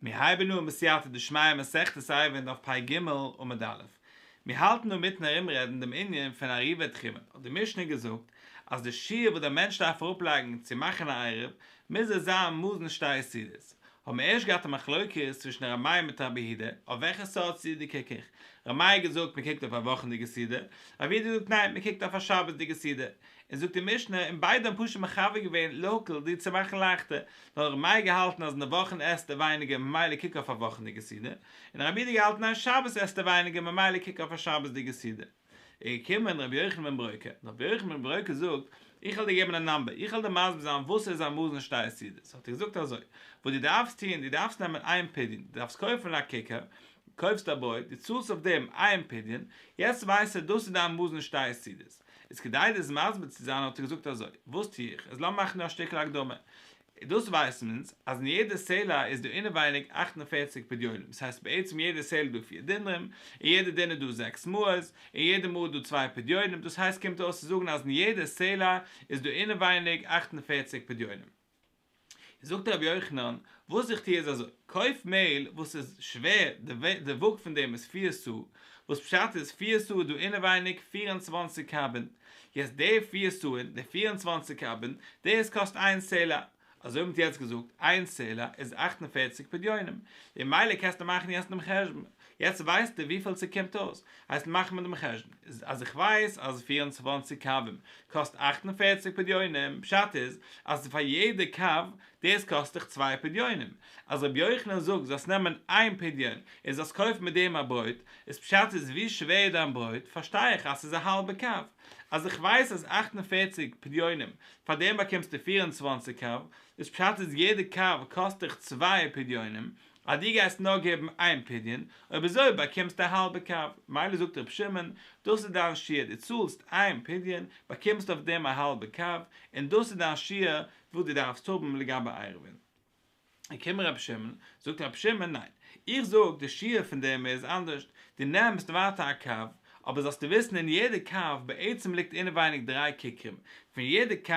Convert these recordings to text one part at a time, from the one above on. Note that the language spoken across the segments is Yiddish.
מיר הייבן אן בסייעתא דשמיא מסכת אייוועלט דף פ ג עמוד א', מיר האלטן אן מיטן ארומרעדן דעם ענין פון עריבת תחומין, האט די משנה געזאגט אז די שיעור וואס דער מענטש דארף אראפלייגן צו מאכן א עירוב מוז עס זיין מאזן שתי יסודות, האבן מיר ערשט געהאט א מחלוקת צווישן רמאי מיט רבי הידע אויף וועלכע סארט סעודה קוק איך, רמאי האט געזאגט מען קוקט אויף א וואכענדיגע סעודה, רבי הידע זאגט ניין מען קוקט אויף א שבת'דיגע סעודה, און זאגט די משנה און ביידע האבן פשוט מחבר געווען להקל די צו מאכן לייכטער, נאר רמאי האט געהאלטן אז אין די וואכן עסט ער ווייניגער ממילא קוק אויף א וואכענדיגע סעודה, און רבי הידע האט געהאלטן ניין שבת עסט ער ווייניגער ממילא קוק אויף א שבת'דיגע סעודה. איז געקומען רבי יוחנן בן ברוקה, און רבי יוחנן בן ברוקה זאגט, איך וועל דיר געבן א נאמבער, איך וועל דיר מסביר זיין וואס איז א מאזן שטייער סידוס, האט ער געזאגט אזוי, וואס דו דארפסט טון, דו דארפסט נעמען איין פדיון, דו דארפסט קויפן א כיכר, קויפסט א ברויט, דו צאלסט אויף דעם איין פדיון, יעצט ווייסטו דאס איז דיין מאזן שטייער סידוס, איז כדי דיר עס מסביר צו זיין האט ער געזאגט אזוי, וואס טו איך, אז לאמיר מאכן דא א שטיקל הקדמה, און דאס ווייסן מיר אונז, אז אין יעדע סעלע איז דא אינעווייניג אַכט און פֿערציק פדיונים, עס הייסט בעצם יעדע סעל איז דא פיר דינרים, און יעדע דינר איז דא זעקס מאות, און יעדע מאה איז דא צוויי פדיונים, דאס הייסט קומט אויס צו זאגן אז אין יעדע סעלע איז דא אינעווייניג אַכט און פֿערציק פדיונים. און זאגט רבי יוחנן, וואס איך טוה איז אזוי, קויף מעהל וואס איז שווער, די וואג פון דעם איז פיר סאה, וואס פשט איז, פיר סאה איז דא אינעווייניג פיר און צוואַנציק קבין, יעצט די פיר סוען, די פיר און צוואנציג קבין, דאס קאסט איין סלע, אזוי ווי מ'האט יעצט געזאגט, איין סלע איז אַכט און פֿערציק פדיונים, ממילא קענסטו מאכן יעצט דעם חשבון, יעצט ווייסטו וויפיל ס'קומט אויס, הייסט מאך מיר דעם חשבון, אז איך ווייס אז פיר און צוואנציג קבין קאסט אַכט און פֿערציק פדיונים, פשט איז אז פאר יעדע קב דאס קאסט דיך צוויי פדיונים, אז רבי יוחנן זאגט זאלסט נעמען איין פדיון און זאלסט קויפן מיט דעם א ברויט, איז פשט איז ווי שווער דיין ברויט, פארשטיי איך אז ס'איז א האלבע קו, אז איך ווייס אז אַכט און פֿערציק פדיונים פאר דעם באקומסטו פֿיר און צוואַנציק קו, איז פשט איז יעדע קו קאסט דיך צוויי פדיונים, אז דו גייסט נאר געבן איין פדיון, אויב אזוי באקומסטו א האלבע קו, מילא זאגט רבי שמעון, דאס איז דיין שיעור, דו צאלסט איין פדיון, באקומסט אויף דעם א האלבע קו, און דאס איז דיין שיעור וואס דו דארפסט האבן לגבי עירובין. קומט רבי שמעון, זאגט רבי שמעון, ניין, איך זאג די שיעור פון דעם איז אנדערשט, דו נעמסט ווייטער א קו, אבער זאלסטו וויסן אין יעדע קו בעצם ליגט אינעווייניג דריי כיכרים, פון יעדע קו,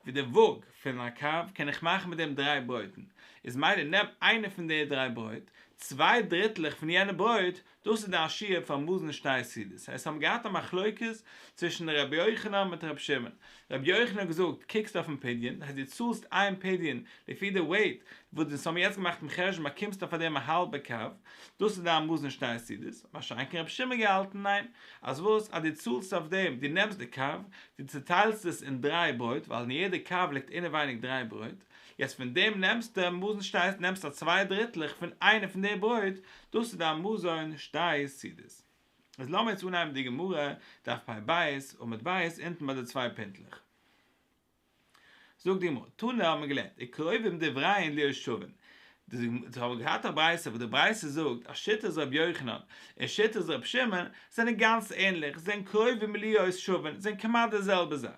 ווי די וואג פון א קו, קען איך מאכן מיט דעם דריי ברויטן, איז מילא נעם איינע פון די דריי ברויט, צוויי דריטלעך פון יענע ברויט, דאס איז די השיה פאר מאזנע שניי סידיס. עס האבן געהאט א מחלוקת צווישן רבי יוחנן מיט רבי שמעון. רבי יוחנן האט געזאגט, קוקסט אויפן פדיון, דאס הייסט דו צאלסט איין פדיון לפי די וועיט וואס די ס'האבן יעצט געמאכט דעם חשבון באקומסטו אויף דעם א האלבע קו, דאס איז דיין מאזנע שניי סידיס. מה שאין כן רבי שמעון האט געהאלטן, ניין, אז וואס, אז דו צאלסט אויף דעם, דו נעמסט די קו, דו צעטיילסט עס אין דריי ברויט, ווייל אין יעדע קו ליגט אינעווייניג דריי ברויט, יעצט פון דעם נעמסטו מאזן שניי, נעמסטו צוויי דריטלעך פון איינע פון די ברויט, דאס איז דיין מזון שתי סעודות. איז לאמיר יעצט אנהייבן די גמרא דף פ ב עמוד ב' אונטן ביי די צוויי פינטלעך. זאגט די גמרא, תנא האט מען געלערנט, און קרובים דבריין ליר שווין, זיי האבן געהאט א ברייתא וואס די ברייתא זאגט אז שיטת רבי יוחנן און שיטת רבי שמעון זענען גאנץ ענליך, זיי זענען קרובים ליר שווין, זענען כמעט די זעלבע זאך.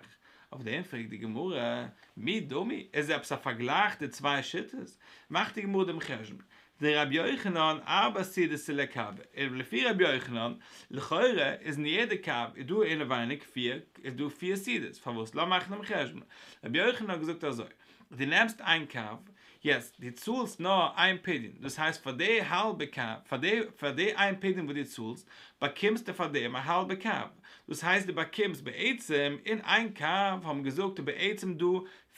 אויף דעם פרעגט די גמרא, מי דמי, איז עפעס א פארגלייך די צוויי שיטות? מאכט די גמרא דעם חשבון, דער רבי יוחנן אבא סי די סילע קאווע איז לפי רבי יוחנן, לכאורה איז אין יעדע קאווע איז דא אינעווייניג פיר איז דא פיר סידעס פארוואס לאמיר מאכן דעם חשבון רבי יוחנן האט געזאגט אזוי די נעמסט איין קאווע יעצט די צאלסט נאר איין פדיון דאס הייסט פאר די האלבע קאווע פאר די פאר די איין פדיון וואס די צאלסט באקומסטו פאר דעם א האלבע קאווע דאס הייסט די באקומסט בעצם אין איין קאווע האבן געזאגט איז בעצם דא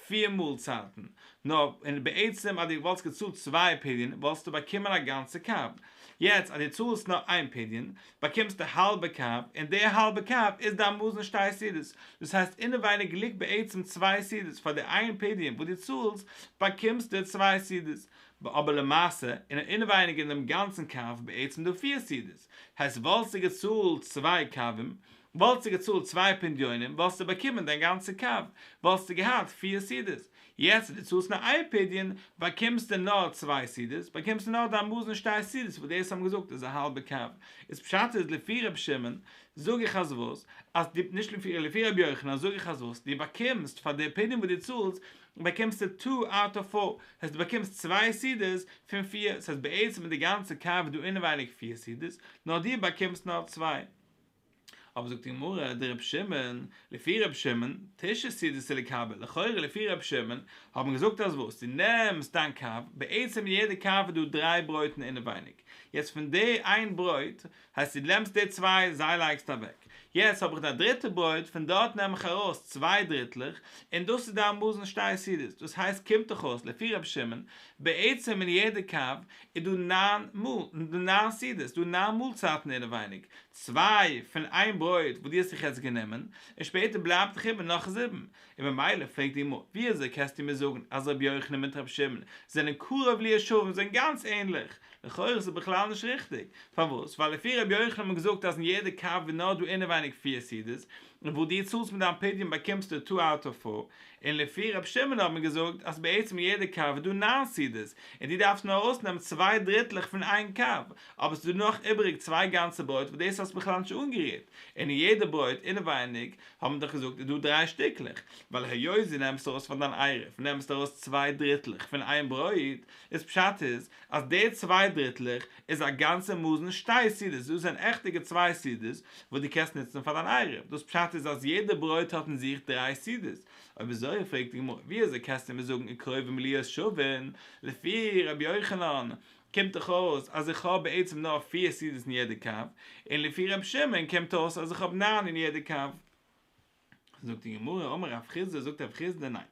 פיר מאלצייטן, נאר און בעצם אז דו וואלסט געצאלט צוויי פדיון וואלסטו באקומען א גאנצע קארב, יעצט אז דו צאלסט נאר איין פדיון באקומסטו האלבע קארב און די האלבע קארב איז דיין מזון שטיי סעודות, דאס הייסט אינעווייניג ליגט בעצם צוויי סעודות, פאר די איין פדיון וואס דו צאלסט באקומסטו צוויי סעודות, אבער למעשה און אינעווייניג אין דעם גאנצן קארב איז בעצם דא פיר סעודות, הייסט וואלסטו געצאלט צוויי קארבים וואלסטו געצאלט צוויי פדיונים וואלסטו באקומען דיין גאנצע קו, וואלסטו געהאט פיר סידיס, יעצט וואס דו צאלסט נאר איין פדיון באקומסטו נאר צוויי סידיס, באקומסטו נאר דיין מאזן שטייס סידיס וואס דאס האט מען געזאגט איז א האלבע קו, איז פשט איז לפי ר' שמעון זאג איך אז וואס, אז דו, נישט לפי, לפי ר' יוחנן זאג איך אז וואס דו באקומסט פאר די פדיון וואס דו צאלסט באקומסטו טו אוט אוו פאר, דאס הייסט דו באקומסט צוויי סידיס פון פיר, ס'הייסט בעצם איז די גאנצע קו דא אינעווייניג פיר סידיס, נאר דו באקומסט נאר צוויי. אבער זאגט די גמרא די רב שמעון, לפי רב שמעון, תשע סידות צו לקבל, לכאורה לפי רב שמעון, האט מען געזאגט אז וואס, די נעמסט דיין קאוו, בעצם אין יעדע קאוו איז דא דריי ברויטן אינעווייניג, יעצט פון די איין ברויט, הייסט די נעמסט די צוויי, זיי לייגסטו אוועק, יעצט האב איך דיין דריטע ברויט, פון דארט נעם איך ארויס צוויי דריטלעך, און דאס איז דיין מאס און שטייער סידות, דאס הייסט קומט דאך אויס לפי רב שמעון, בעצם אין יעדע קאוו, איז דא ניין מאל, דא ניין סעודות, דא ניין מאלצייטן אינעווייניג, צוויי פון איין ברויט וואס דו האסט זיך יעצט גענומען, און שפעטער בלייבט דיך איבער נאך זיבן, און ממילא פרעגט די גמרא, ווי אזוי קענסטו מיר זאגן אז רבי יוחנן מיט רבי שמעון זענען קרוב לישרים, זיי זענען גאנץ ענליך, לכאורה איז עס בכלל נישט ריכטיג, פארוואס? ווייל לפי רבי יוחנן האט מען געזאגט אז אין יעדע קאווע איז נאר דא אינעווייניג פיר סעודות, און וואס דו צאלסט מיט דיין פדיון באקומסטו טו אוט אוו פאר, און לפי ר' שמעון האט מען געזאגט אז בעצם יעדע קו איז דא נײַן סידעס, און דו דארפסט נאר ארויסנעמען צוויי דריטלעך פון איין קו, אבער ס'איז דא נאך איבעריג צוויי גאנצע ברויט וואס דאס האסט בכלל נישט אנגערירט, און אין יעדע ברויט אינעווייניג האט מען דאך געזאגט איז דא דריי שטיקלעך, ווייל היות דו נעמסט ארויס פון דיין עירוב נעמסטו ארויס צוויי דריטלעך פון איין ברויט, איז פשט איז אז די צוויי דריטלעך איז א גאנצע מאזן שתי סעודות, דאס זענען עכטע געצוויי סעודות וואס דו קענסט נוצן פאר דיין עירוב, דאס פשט איז אז יעדע ברויט האט אין זיך דריי סעודות, אויב אזוי פרעגט די גמרא ווי אזוי קענסטו מיר זאגן אין קרובים להיות שווין, לפי רבי יוחנן קומט דאך אויס אז איך האב בעצם נאר פיר סעודות אין יעדע קו, און לפי רבי שמעון קומט אויס אז איך האב ניין אין יעדע קו. זאגט די גמרא, אמר רב חיסדא, זאגט רב חיסדא, ניין,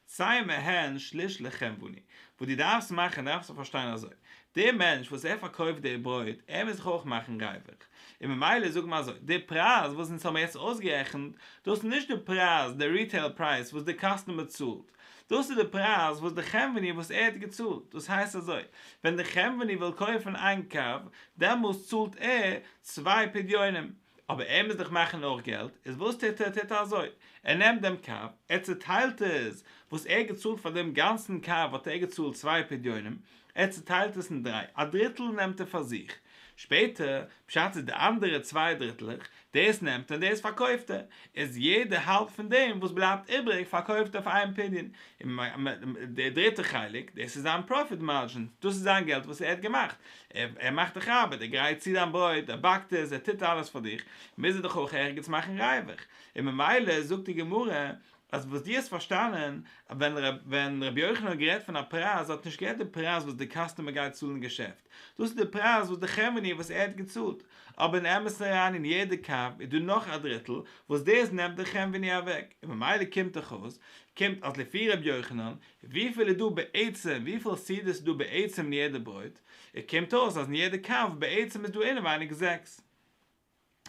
צוויי מהן שליש לחם ואני, וואס דו דארפסט מאכן דארפסטו פארשטיין אזוי, דער מענטש וואס ער פארקויפט די ברויט, ער מוז זיך אויך מאכן רעוועך, און ממילא זאג מען אזוי, די פרייז וואס אונז האבן יעצט אויסגערעכנט, דאס איז נישט די פרייז, די ריטעיל פרייז וואס די קאסטומער צאלט, דאס איז די פרייז וואס די חם ואני וואס ער האט געצאלט, דאס הייסט אזוי, ווען די חם ואני וויל קויפן איין קו, דעמאלס צאלט ער צוויי פדיונים, אבער ער מוז דאך מאכן אויך געלט, איז וואס טוט ער? טוט ער אזוי, ער נעמט דעם קאר, ער צעטיילט עס, וואס ער האט געצאלט פאר דעם גאנצן קאר האט ער געצאלט צוויי פדיונים, ער צעטיילט עס אין דריי, א דריטל נעמט ער פאר זיך, שפעטער, בשעת ס'איז די אנדערע צוויי דריטלעך, דאס נעמט ער און דאס פארקויפט ער, איז יעדע האלב פון דעם וואס בלייבט איבעריג פארקויפט ער פאר איין פדיון, און די דריטע חלק, דאס איז זיין פראפיט מארדזשין, דאס איז זיין געלט וואס ער האט געמאכט, ער מאכט דיך ארבעט, ער גרייט צו דיין ברויט, ער באקט עס, ער טוט אלעס פאר דיך, מוז ער דאך אויך ערגעץ מאכן ריווח, און ממילא זאגט די גמרא אז וואס דו האסט פארשטאנען ווען ווען רבי יוחנן האט גערעדט פון א פרייז, ער האט נישט גערעדט די פרייז וואס די קאסטומער גייט צאלן אין געשעפט, דאס איז די פרייז וואס די כעוועני וואס ער האט געצאלט, אבער אין אמת'ן אריין אין יעדע קאפ איז דא נאך א דריטל וואס דאס נעמט די כעוועני אוועק, און ממילא קומט דאך אויס, קומט אז לפי רבי יוחנן וויפיל איז דא בעצם, וויפיל סעודות איז דא בעצם אין יעדע ברויט, און קומט אויס אז אין יעדע קאוו בעצם איז דא אינעווייניג זעקס.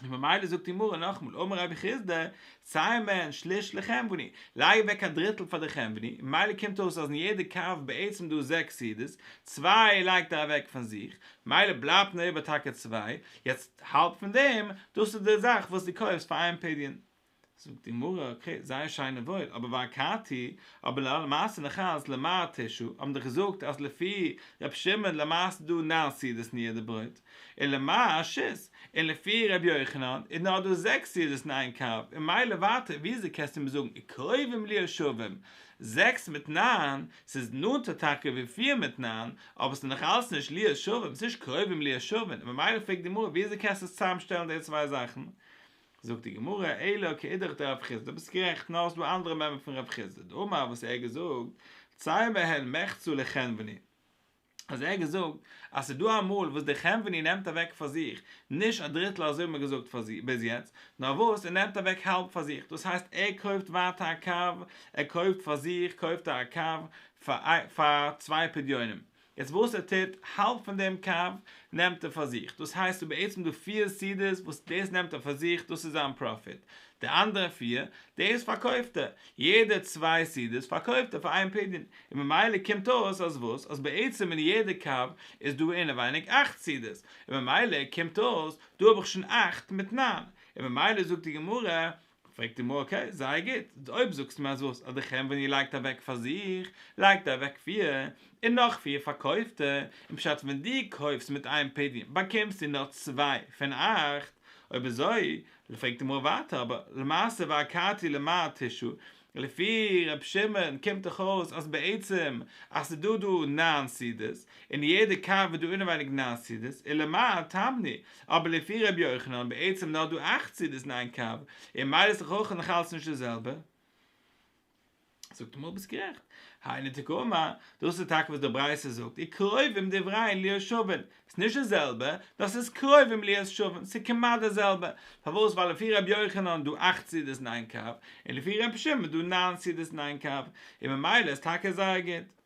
און ממילא זאגט די גמרא נאכאמאל אמר רבי חיסדא, צייל מען שליש לחמבני, לייג אוועק א דריטל פאר די חמבני, ממילא קומט אויס אז אין יעדע קאוו בעצם דא זעקס סעודות, צוויי לייגט ער אוועק פון זיך, ממילא בלייבט נאר איבער טאקע צוויי, יעצט האלב פון דעם, דאס איז די זאך וואס דו קויפסט פאר איין פדיון. זאגט די גמרא, אקעי, זייער שיין און וואויל, אבער והכרתי, אבער לאור מעשה נחז ל מר תשו א האבן דאך געזאגט אז לפי ר' שמעון למעשה איז דא נײַן סעודות ניער די ברויט, און למר ש ס, און לפי ר' יוחנן איז נאר דא זעקס סעודות אין איין קארב, און מילא ווייטער ווי אזוי קענסטו מיר זאגן וקרובים לי השווים, זעקס מיט נײַן, ס'איז נאנטער טאקע ווי פיר מיט נײַן, אבער ס'איז נאך אלץ נישט לי השווים, ס'איז נישט קרובים לי השווים, ממילא פרעגט די גמרא ווי אזוי קענסטו צוזאם שטעלן די צוויי זאכן? זאגט די גמרא, אלא כאידך דרב חיסדא, דו ביסט גערעכט, נאר עס איז דא אנדערע מימרא פון רב חיסדא, דאמר וואס ער האט געזאגט, צי מהן מחצו לחנווני, אז ער האט געזאגט אז עס איז דא אמאל וואס דער חנווני נעמט אוועק פאר זיך נישט א דריטל אזוי האט מען געזאגט ביז יעצט, נאר וואס ער נעמט אוועק האלב פאר זיך, דאס הייסט ער קויפט ווייטער א קו, ער קויפט פאר זיך קויפט ער א קו פאר צוויי פדיונים, יעצט וואס ער טוט, האלב פון דעם קו נעמט ער פאר זיך, דאס הייסט ס'איז בעצם דא פֿיר סידיס וואס דאס נעמט ער פאר זיך, דאס איז זיין פראפיט, די אנדערע פֿיר, דאס פארקויפט ער, יעדע צוויי סידיס פארקויפט ער פאר איין פדיון, און ממילא קומט אויס אז וואס, אז בעצם אין יעדע קו איז דא אינעווייניג אַכט סידיס, און ממילא קומט אויס, דא האב איך שוין אַכט מיט נײַן, און ממילא זאגט די גמרא, פרעגט אים אקעי זייער גוט, אויב זאגסט מיר אז וואס אז די חרם ווען איר לייגט אוועק פאר זיך לייגט איר אוועק פיר און נאך פיר פארקויפטע און פשט ווען דו קויפסט מיט איין פעדיום באקומסטו נאר צוויי פון אכט אויב אזוי פרעגט די גמרא ווייטער אבער למעשה והכרתי למען תשעה לפי ר' שמעון קומט דאך אויס אז בעצם אז ס'איז דא דא נײַן סידיס, און יעדע קאווע איז דא אינעווייניג נײַן סידיס, אלא מאי טעמני, אבער לפי ר' יוחנן בעצם נאר דא אַכט סידיס אין איין קאווע, און מילא איז דאך אויך נאך אלץ נישט די זעלבע. זאגט ער מיר ביסט גערעכט. היינו תקומא, דאס איז טאקע וואס די ברייתא זאגט, און קרובים דברי ליושבין, ס'נישט די זעלבע, דאס איז קרוב און בליעת שווים, ס'כמעט די זעלבע, פארוואס ווייל לפי ר' יוחנן איז דא אכט סעודות אין איין קאפ, און לפי ר' שמעון איז דא נײַן סעודות אין איין קאפ, און ממילא איז טאקע זייער גוט.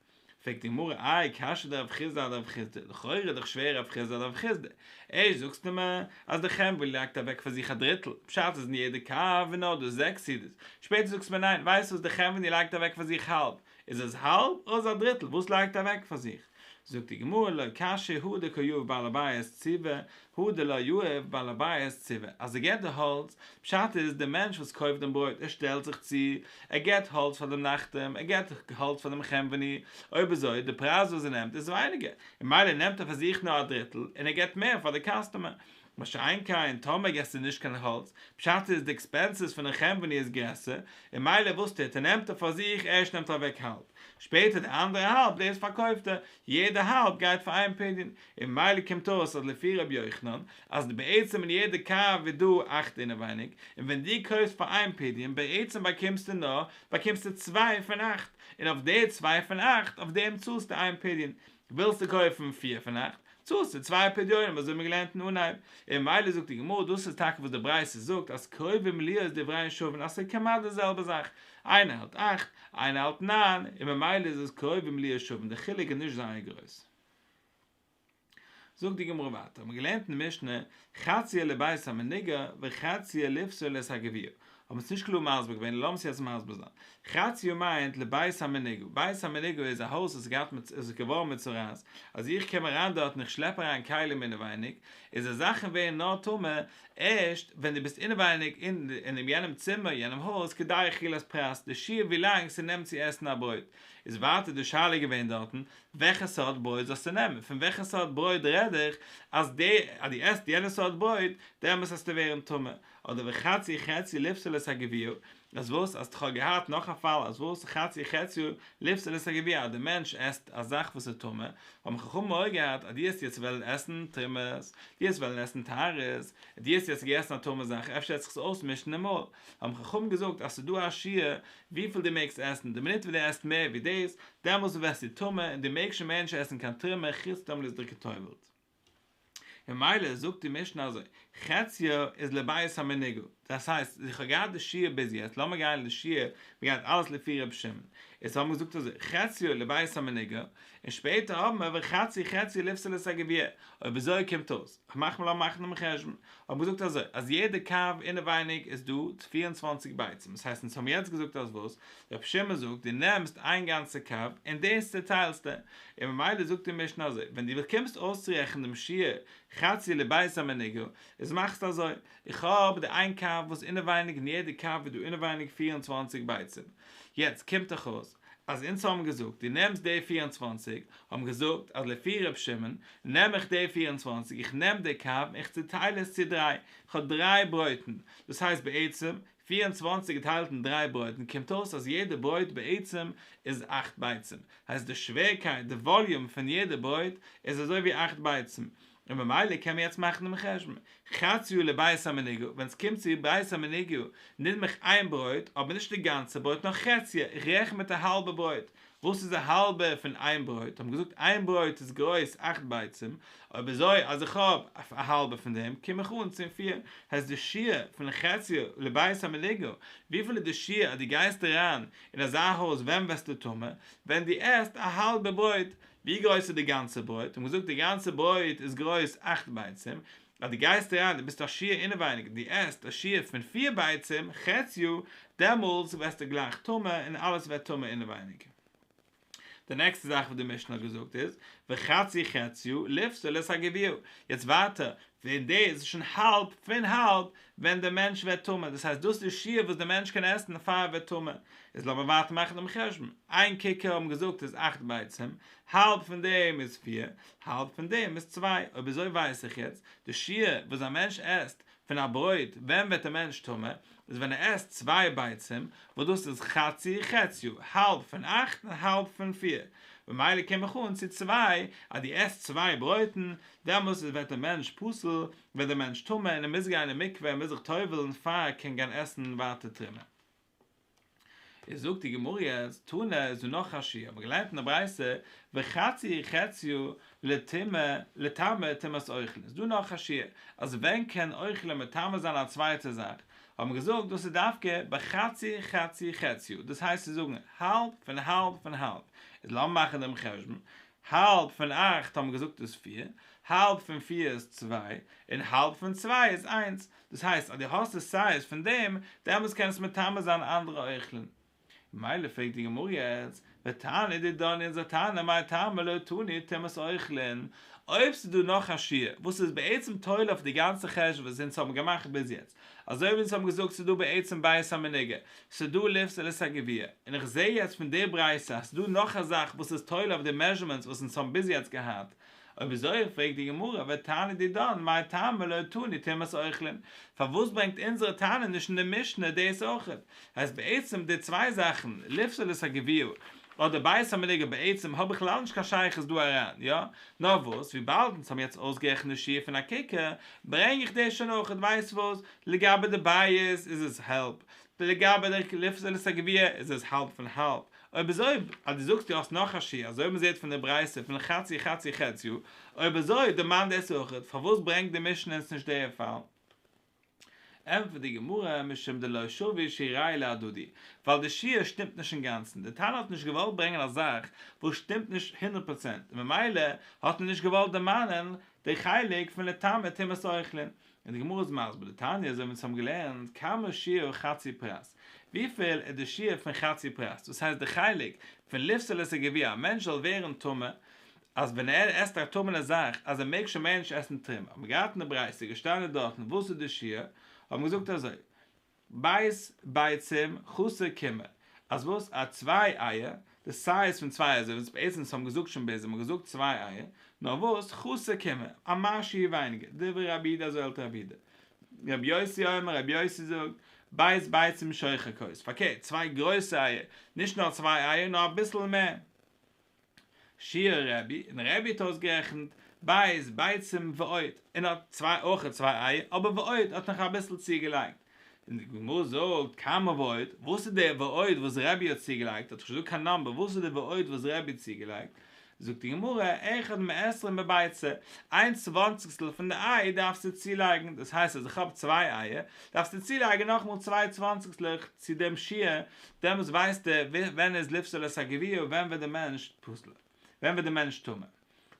פרעגט די גמרא איי קשיא די רב חיסדא די רב חיסדא, לכאורה איז דאך שווער רב חיסדא די רב חיסדא, ערשט זאגסטו מיר אז די חמרא לייגט אוועק פאר זיך א דריטל, פשט איז אין יעדע קאפ איז נאר דא זעקס סעודות, שפעטער זאגסטו מיר ניין ווייסט וואס די חמרא לייגט אוועק פאר זיך האלב, איז עס האלב אדער א דריטל וואס לייגט ער אוועק פאר זיך? זאגט די גמרא לא קשיא הוא דקא יאהב בעל הבית ציוה הוא דלא יאהב בעל הבית ציוה אז ער געבט די האלץ, פשט איז די מענטש וואס קויפט דעם ברויט ער שטעלט זיך צו, ער געבט האלץ פאר דעם נחתום, ער געבט האלץ פאר דעם חנווני, אויב אזוי די פרייז וואס ער נעמט איז ווייניגער, ממילא נעמט ער פאר זיך נאר א דריטל און ער געבט מער פאר די קאסטומער. מה שאין כן טאמער געסטו נישט קיין האלץ, פשט איז די עקספענסעס פון די קאמפאני איז גרעסער, און מילא וואס טוט ער, נעמט ער פאר זיך, ערשט נעמט ער אוועק האלב, שפעטער די אנדערע האלב דאס פארקויפט ער, יעדע האלב גייט פאר איין פדיון, און מילא קומט אויס אז לפי ר' יוחנן, אז בעצם אין יעדע קאר איז דא אכט אינעווייניג, און ווען דו קויפסט פאר איין פדיון בעצם באקומסטו נאר, באקומסטו צוויי פון אכט, און אויף די צוויי פון אכט אויף דעם צאלסטו איין פדיון, ווילסטו קויפן פיר פון אכט, צאלסטו צוויי פדיונים אזוי האבן מיר געלערנט אין אנהייב, און ממילא זאגט די גמרא, דאס איז טאקע וואס די ברייתא זאגט אז קרובים להיות דבריהן שווין אז ס'איז כמעט די זעלבע זאך, איינער האלט אכט, איינער האלט ניין, און ממילא איז עס קרובים להיות שווין, די חילוק איז נישט זייער גרויס. זאגט די גמרא ווייטער, האבן מיר געלערנט אין משנה, חציה לבית המנגר וחציה לפסולת הגביר, האבן עס נישט קלאר מסביר געווען לאמיר עס יעצט מסביר זיין. חצי יו מיינט לבית המנהיגו, בית המנהיגו איז א הויז וואס איז געהאט מצ איז געווארן מצורעת, אז איך קום אריין דארט און איך שלעפ אריין כלים אינעווייניג, איז די זאכן ווערן נאר טמא ערשט ווען דו ביסט אינעווייניג אין אינעם יענעם צימער יענעם הויז כדי אכילת פרס די שיעור ווילאנג ס'נעמט צו עסן א ברויט, איז ווייטער די שאלה געווען דארטן וועכע סארט ברויט זאלסטו נעמען, פון וועכע סארט ברויט רעד איך אז די אז דו עסט יענע סארט ברויט דעמאלס עסטו ווערן טמא, אדער וחצי חציו לפסול את הגביר, אז וואס, אז כ'האב געהאט נאך א פאל אז וואס חצי חציו לפסול את הגביר אז די מענטש עסט א זאך וואס איז טמא, האבן חכמים מעורר געהאט אז דו האסט יעצט וועלן עסן טרימעס, דו האסט וועלן עסן טהרות, דו האסט יעצט געגעסן א טמא זאך אפשר וועט זיך עס אויסמישן אין מויל, האבן חכמים געזאגט אז ס'איז דא א שיעור וויפיל דו מעגסט עסן, די מינוט וואס דו עסט מער ווי דאס, דעמאלס ווערסטו טמא און דו מעגסט שוין מער נישט עסן קיין טרימע חוץ טאמער דאס איז דיר גע'טובל'ט. ממילא זאגט די משנה אזוי, חציו איז לבית המנהיגו, דאס הייסט, איך האב געהאט די שיעור ביז יעצט, לאמיר גיין אין די שיעור, מען גייט אלעס לפי ר' שמעון, איז האבן מיר געזאגט אזוי, חציו לבית המנהיגו, און שפעטער האבן מיר וחצי חציו לפסילת הגביע, אויב אזוי קומט אויס, כ'מאך מיר לאמיר מאכן דעם חשבון, האט געזאגט אזוי אז יעדע קו אינעווייניג איז דא פֿיר און צוואַנציק ביצים דאס הייסט אונז האבן יעצט געזאגט אז וואס רבי שמעון זאגט דו נעמסט איין גאנצע קו און דאס צעטיילסטו און ממילא זאגט די משנה אזוי ווען דו קומסט אויסצורעכענען דעם שיעור חצי לבית המנגר איז מאכסטו אזוי איך האב די איין קו וואס אינעווייניג און יעדע קו איז דא אינעווייניג פֿיר און צוואַנציק ביצים יעצט קומט דאך אויס אז אונז האבן געזאגט דו נעמסט די פֿיר און צוואַנציק, האבן געזאגט אז לפי ר' שמעון נעם איך די פֿיר און צוואַנציק, איך נעם די קו און איך צוטייל עס צו דריי, איך האב דריי ברויטן, דאס הייסט בעצם פֿיר און צוואַנציק געטיילט אין דריי ברויטן קומט אויס אז יעדע ברויט בעצם איז אַכט ביצים, הייסט די שווערקייט, די וואליום פון יעדע ברויט איז אזוי ווי אַכט ביצים, און ממילא קען מען יעצט מאכן דעם חשבון, חצי יו ל בית המנהיגו, ווען עס קומט צו בית המנהיגו נעם איך איין ברויט, אבער נישט די גאנצע ברויט נאר חציו, איך רעכן מיט א האלבע ברויט, וואס איז א האלבע פון איין ברויט, האבן געזאגט איין ברויט איז גרויס אכט ביצים, אויב אזוי אז איך האב א האלבע פון דעם קום איך אן צום פיר, הייסט די שיעור פון חציו לבית המנהיגו, וויפיל איז די שיעור אז דו גייסט אריין אין אזא הויז ווען ווערסטו טמא? ווען דו עסט א האלבע ברויט, ווי גרויס איז די גאנצע ברויט? האט מען געזאגט די גאנצע ברויט איז גרויס אַכט ביצים, אז די גייסט אריין די ביסט א שיעור אינעווייניג די עסט א שיעור פון פיר ביצים חציו דעמאלטס ווערסטו גלייך טמא און אלעס ווערט טמא אינעווייניג. די נעקסטע זאך וואס די משנה האט געזאגט איז וחצי חציו לפסול את הגביעו, יעצט ווייטער ווען דער איז שוין האלב פון האלב ווען דער מענטש ווערט טמא, דאס הייסט דאס איז די שיעור וואס דער מענטש קען עסן פאר ער ווערט טמא, איז לאמיר ווייטער מאכן דעם חשבון, איין קיקער האבן געזאגט איז אכט ביצים, האלב פון דעם איז פיר, האלב פון דעם איז צוויי, אויב אזוי ווייס איך יעצט די שיעור וואס א מענטש עסט פון א ברויט, ווען ווערט דער מענטש טמא, איז ווען ער עסט צוויי ביצים, וואס דאס איז חצי חציו, האלב פון אכט און האלב פון פיר, ממילא קום איך אן צו צוויי, אז דו עסט צוויי ברויטן, דעמאלס איז ווערט דער מענטש פסול, ווערט דער מענטש טמא און ער מוז גיין אין מקווה און מוז זיך טובל'ן פאר ער קען גיין עסן ווייטער תרומה. איז זאגט די גמרא אז טונא איז דא נאך א שיעור, מ'האט געלערנט אין די ברייתא וחצי חציו לטמא לטמא טומאת אוכל, איז דא נאך א שיעור אז ווען קען אוכל מטמא זיין א צווייטע זאך, האט מען געזאגט דאס איז דווקא בחצי חצי חציו, דאס הייסט צו זאגן האלב פון האלב פון האלב, איז לאמיר מאכן דעם חשבון, האלב פון אכט האט מען געזאגט איז פיר, האלב פון פיר איז צוויי, און האלב פון צוויי איז איינס, דאס הייסט אז דו האסט עס סייז פון דעם, דעמאלס קענסטו מטמא זיין אנדערע אוכלין. ממילא פרעגט די גמרא יעצט, ותענה די דני אונזער טענה מאי טעמא לא תוני טומאת אוכלין, אויב ס'איז דא נאך א שיעור וואס איז בעצם תולה אויף די גאנצע חשבון וואס אונז האבן געמאכט ביז יעצט, אזוי ווי אונז האבן געזאגט ס'איז דא בעצם בית המנהיגה, ס'איז דא לופט און עס איז א גביר, און איך זעה יעצט פון די ברייתא אז ס'איז דא נאך א זאך וואס איז תולה אויף די מעזשערמענטס וואס אונז האבן ביז יעצט געהאט, אויב איז אויך פרעגט די גמרא ותעני די דאן מאי טעמא לא תני טומאת אוכלין, פארוואס ברענגט אונזערע תנא נישט אין די משנה דאס אויכעט, הייסט בעצם די צוויי זאכן לופט און עס איז א גביר, אט די בית המדרש בעצם האט בכלל נישט קיין שייכות דא אריין, יא? נאר וואס, וויבאלד אונז האבן יעצט אויסגערעכנט די שיעור פון א קוקער, ברענג איך דאס שוין אויכעט, ווייסט וואס, לגבי די בית איז עס האלב, לגבי די לפסל את הגביע איז עס האלב פון האלב, אויב איז אויב, אז דו זאגסט דו האסט נאך א שיעור, אזוי ווי מ'זעט פון די ברייתא פון חצי חצי חציו, אויב אזוי דערמאן דאס אויכעט, פארוואס ברענגט די משנה אונז נישט דער פאל? ענטפערט די גמרא, משום דלא שווי שיראי להדדי, ווייל די שיעור שטימט נישט אינגאנצן, די תנא האט נישט געוואלט ברענגען א זאך וואס שטימט נישט הונדערט פראצענט, און ממילא האט ער נישט געוואלט דערמאנען די חלק פון לטמא טומאת אוכלין, און די גמרא איז מסביר די תניא אזוי ווי אונז האבן געלערנט, כמה שיעור חצי פרס, וויפיל איז די שיעור פון חצי פרס, דאס הייסט די חלק פון לפסול עס ע ג ווי א מענטש זאל ווערן טמא, אז ווען ער עסט א טעמענע זאך אז ער מעג שוין מער נישט עסן טרם, האט מען געהאט אין די ברייתא געשטאנען דארטן וואס איז די שיעור, האט מען געזאגט אזוי, בית ביצים חסר קמא, אז וואס א צוויי אייער, די סייז פון צוויי אייער, זיי בעצם וואס האבן געזאגט שוין בעצם האט געזאגט צוויי אייער, נאר וואס חסר קמא, א מש שיעור ווייניגער, דברי רבי איד אזוי האלט רבי איד, רבי יוסי אומר רבי יוסי זאגט, בית ביצים שוחר כוס, פארקערט צוויי גרויסע אייער, נישט נאר צוויי אייער נאר אביסל מער. שיעור רבי, און רבי האט אויסגערעכנט בית ביצים ועוד, און האט צוויי אויך צוויי אייער, אבער ועוד האט נאך אביסל צוגעלייגט, און די גמרא זאגט כמה ועוד, וואס איז דער ועוד וואס רבי האט צוגעלייגט, האט נישט געזאגט קיין נומבער, וואס איז דער ועוד וואס רבי האט צוגעלייגט, זאגט די גמרא אחד מעשרים בביצה, איין צוואנציגסטל פון די איי דארפסטו צולייגן, דאס הייסט אז איך האב צוויי אייער, דארפסטו צולייגן נאכמאל צוויי צוואנציגסטלעך צו דעם שיעור דעמאלס ווייסט ער ווען איז לפסולת הגבייה און ווען ווערט דער מענטש פסול, ווען ווערט דער מענטש טמא.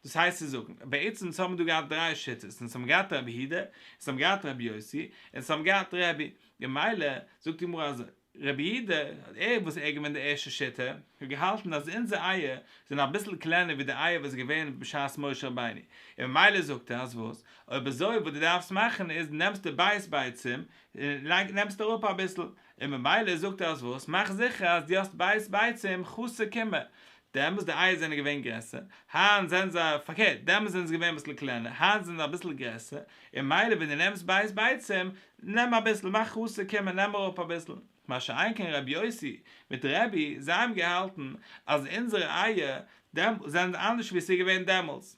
דאס הייסט צו זאגן, בעצם אונז האבן דא געהאט דריי שיטות, אונז האבן געהאט רבי יהודה, אונז האבן געהאט רבי יוסי, און אונז האבן געהאט רבי, ממילא זאגט די גמרא אזוי, רבי יהודה, ער וואס ער איז געווען די ערשטע שיטה, האט געהאלטן אז אונזער אייער זענען אביסל קלענער ווי די אייער וואס איז געווען בשעת משה רבינו, און ממילא זאגט ער אז וואס, אויב אזוי וואס דו דארפסט מאכן איז נעמסטו בית ביצים און לייג נעמסטו אראפ אביסל, און ממילא זאגט ער אז וואס? מאך זיכער אז דו האסט בית ביצים חסר קומה, דעמאלס די אייער זענען געווען גרעסער, היינט זענען זיי, פארקערט, דעמאלס זענען זיי געווען אביסל קלענער, היינט זענען זיי אביסל גרעסער, און ממילא ווען דו נעמסט בית ביצים, נעם אביסל, מאך חסר קומה, נעם אראפ אביסל. מה שאין כן רבי יוסי מיט רבי, זיי האבן געהאלטן אז אונזערע אייער זענען אנדערש ווי עס איז געווען דעמאלס.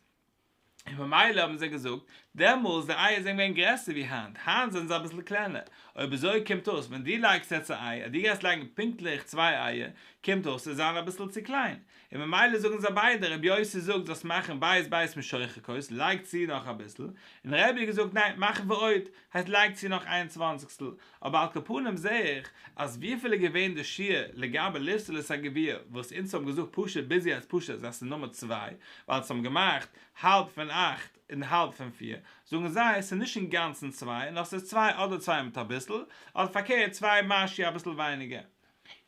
און ממילא האבן זיי געזאגט, דעמאלס די אייער זענען געווען גרעסער ווי היינט, היינט זענען זיי אביסל קלענער, אויב אזוי קומט אויס ווען דו לייגסט יעצט א איי אז דו גייסט לייגן פונקטליך צוויי אייער, קומט אויס עס זיין אביסל צו קליין, און ממילא זאגן זיי ביידע, רבי יוסי זאגט זאלסט מאכן בית בית משוחקות, לייג צו נאך אביסל, און רביה געזאגט ניין, מאך ועוד, הייסט לייג צו נאך איין צוואנציגסטל, אבער על כל פנים זעה איך אז וויפיל איז געווען די שיעור לגבי לפסול עס א גביר וואס אונז האבן געזאגט פשוט ביז יעצט פשוט זיי ס'איז נומער צוויי ווייל ס'האבן געמאכט האלב פון אכט און האלב פון פיר זאגן זיי ס'איז נישט אינגאנצן צוויי נאר ס'איז צוויי אדער צוויי מיט אביסל אדער פארקערט צוויי משהו אביסל ווייניגער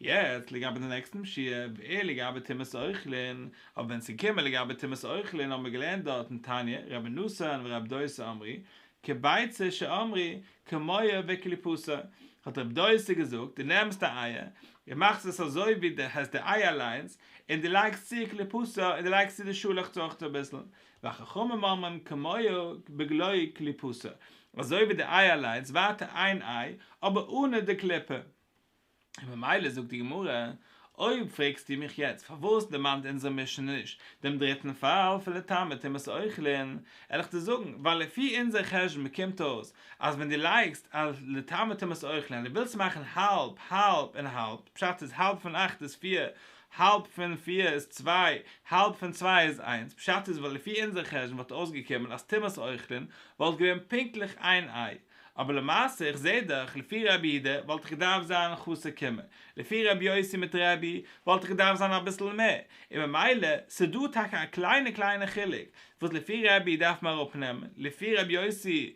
יעצט לגבי די נעקסטע משיה, ווער לגבי טומאת אוכלין, אויב ווען צו קומען לגבי טומאת אוכלין האבן מיר געלערנט דארט אין תניא, רבי נתן ורבי דוסא אמרי, כביצה שאמרי, כמוה וכליפתא, האט רבי דוסא געזאגט, דו נעמסט א אייער, און מאכסט עס אזוי ווי דו עסט די אייער אליינס, און דו לייגסט צו כליפתא און דו לייגסט צו די שאלעכץ אויך אביסל, והחכמים אומרים כמוה בגלוי כליפתא, אזוי ווי די אייער אליינס, ווייטער איין איי, אבער אנע די קליפה. און ממילא זאגט די גמרא, אויב פרעגסטו מיך יעצט פארוואס דערמאנט אונזער משנה נישט דעם דריטן פאל פון לטמא טומאת אוכלין, על איך דיר זאגן, ווייל לפי אונזער חשבון קומט אויס אז ווען דו לייגסט על לטמא טומאת אוכלין אז דו ווילסט מאכן האלב האלב און האלב, פשט איז האלב פון אכט איז פיר, האלב פון פיר איז צוויי, האלב פון צוויי איז איינס, פשט איז ווייל לפי אונזער חשבון וואלט אויסגעקומען אז טומאת אוכלין וואלט געווען פונקטליך איין איי. אבער למעשה איך זעה דאך לפי רבי אידה וואלט איך געדארפט זיין חסר קומה, לפי רבי יוסי מיט רבי וואלט איך געדארפט זיין אביסל מער, און ממילא ס'דא טאקע א קליינע קליינע חילוק וואס לפי רבי דארף מען אראפנעמען, לפי רבי יוסי,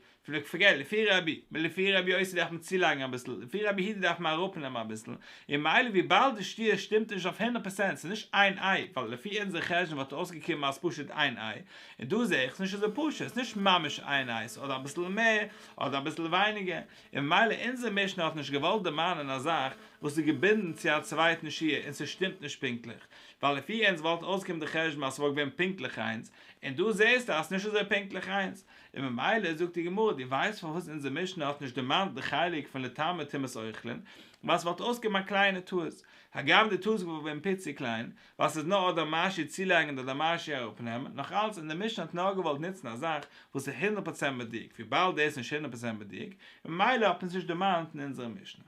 פארגעט לפי רבי, לפי רבי יוסי דארף מען צולייגן אביסל, לפי רבי אידה דארף מען אראפנעמען אביסל, און ממילא וויבאלד די שטיה שטימט נישט אויף הונדערט פראצענט ס'איז נישט איין איי, ווייל לפי אונזער חשבון וואלט אויסגעקומען אז ס'פשוט איין איי, און דא זע איך ס'נישט אזוי פשוט, ס'איז נישט ממש איין אייז, אדער אביסל מער, אדער אביסל ווייניגער, און ממילא אונזער משנה האט נישט געוואלט דערמאנען א זאך וואס איז געבינדן צו א צווייטן שיעור און ס'שטימט נישט פונקטליך, ווייל לפי אונז וואלט אויסגעקומען די חשבון אז ס'וואלט געווען פונקטליך איינס, און דא זעסטו אז ס'נישט אזוי פונקטליך איינס, און ממילא זאגט די גמרא, דו ווייסט פארוואס אונזער משנה האט נישט דערמאנט די חלק פון לטמא טומאת אוכלין, ווייל ס'וואלט אויסגעקומען א קליינע טעות, הגם די טעות איז געווען פיצי קליין, ווייל ס'איז נאר אדער משי צולייגן אדער משי אראפנעמען, נאך אלץ און די משנה האט נאר געוואלט נוצן א זאך וואס איז הונדערט פראצענט מדויק, וויבאלד דאס איז נישט הונדערט פראצענט מדויק, ממילא האט מען עס נישט דערמאנט אין אונזערע משנה.